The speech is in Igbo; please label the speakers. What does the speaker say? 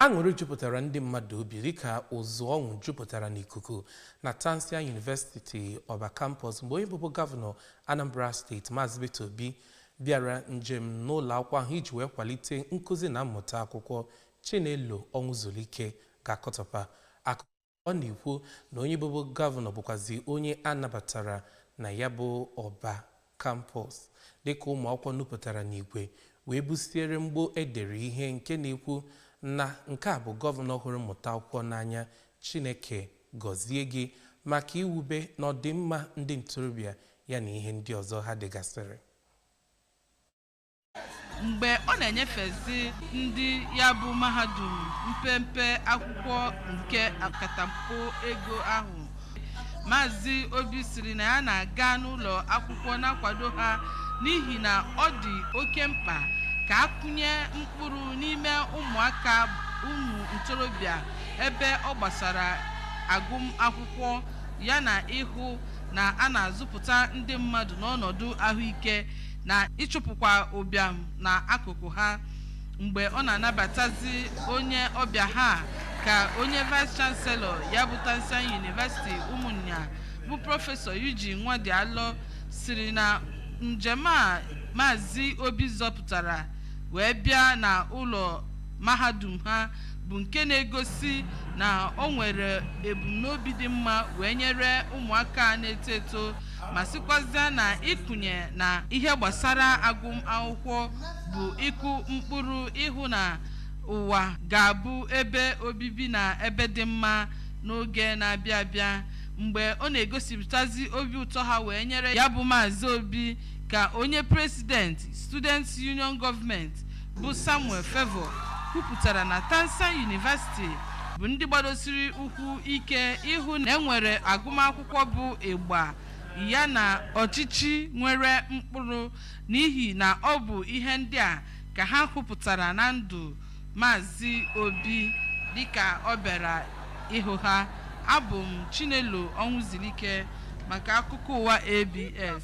Speaker 1: Aṅụrị jupụtara ndị mmadụ obi dịka ụzụ ọṅụ jupụtara n'ikuku na Tansian University Ọba Campus mgbe onye bụbu gọvanọ Anambra steeti Maazị Peter Obi bịara njem n'ụlọ akwụkwọ ahụ iji wee kwalite nkụzi na mmụta akwụkwọ. Chinelo Ọnwụzulike ga-akọtọpa akụkọ. ọ na-ekwu na onye bụbu gọvanọ bụkwazi onye a nabatara na ya bụ Ọba Campus dịka ụmụ akwụkwọ nupụtara n'igwe wee busiere mgbo e dere ihe nke na-ekwu na nke a bụ gọvanọ hụrụ mmụta akwụkwọ n'anya Chineke gọzie gị maka iwube na ọdịmma ndị ntorobịa ya na ihe ndị ọzọ ha degasịrị
Speaker 2: mgbe ọ na-enyefezi ndị ya bụ mahadum mpempe akwụkwọ nke akatamkpo ego ahụ Maazị Obi sịrị na ya na-aga n'ụlọ akwụkwọ na-akwado ha n'ihi na ọ dị oke mkpa ka a kụnye mkpụrụ n'ime ụmụaka ụmụ ntorobịa ebe ọ gbasara agụmakwụkwọ yana ịhụ na a na-azụpụta ndị mmadụ n'ọnọdụ ahụike na ịchụpụkwa ụbịam na akụkụ ha mgbe ọ na-anabatazi onye ọbịa ha ka onye vice chancellor ya bụ Tansian University Ụmụnya bụ prọfesọ Eugene Nwadialọ sịrị na njem a maazị Obi zọpụtara wee bịa na ụlọ mahadum ha bụ nke na-egosi na o nwere ebumnobi dị mma wee nyere ụmụaka na-eto eto ma sịkwazịa na ịkụnye na ihe gbasara agụmakwụkwọ bụ ịkụ mkpụrụ ịhụ na ụwa ga-abụ ebe obibi na ebe dị mma n'oge na-abịa abịa mgbe ọ na-egosipụtazi obi ụtọ ha wee nyere ya bụ Maazị Obi ka onye president students union government bụ Samuel Favour kwupụtara na Tansian University bụ ndị gbadosiri ụkwụ ike ịhụ na e nwere agụmakwụkwọ akwụkwọ bụ ịgba ya na ọchịchị nwere mkpụrụ n'ihi na ọ bụ ihe ndị a ka ha hụpụtara na ndụ Maazị Obi dịka ọ bịara ịhụ ha abụ m Chinelo Ọnwụzulike maka akụkọ ụwa ABS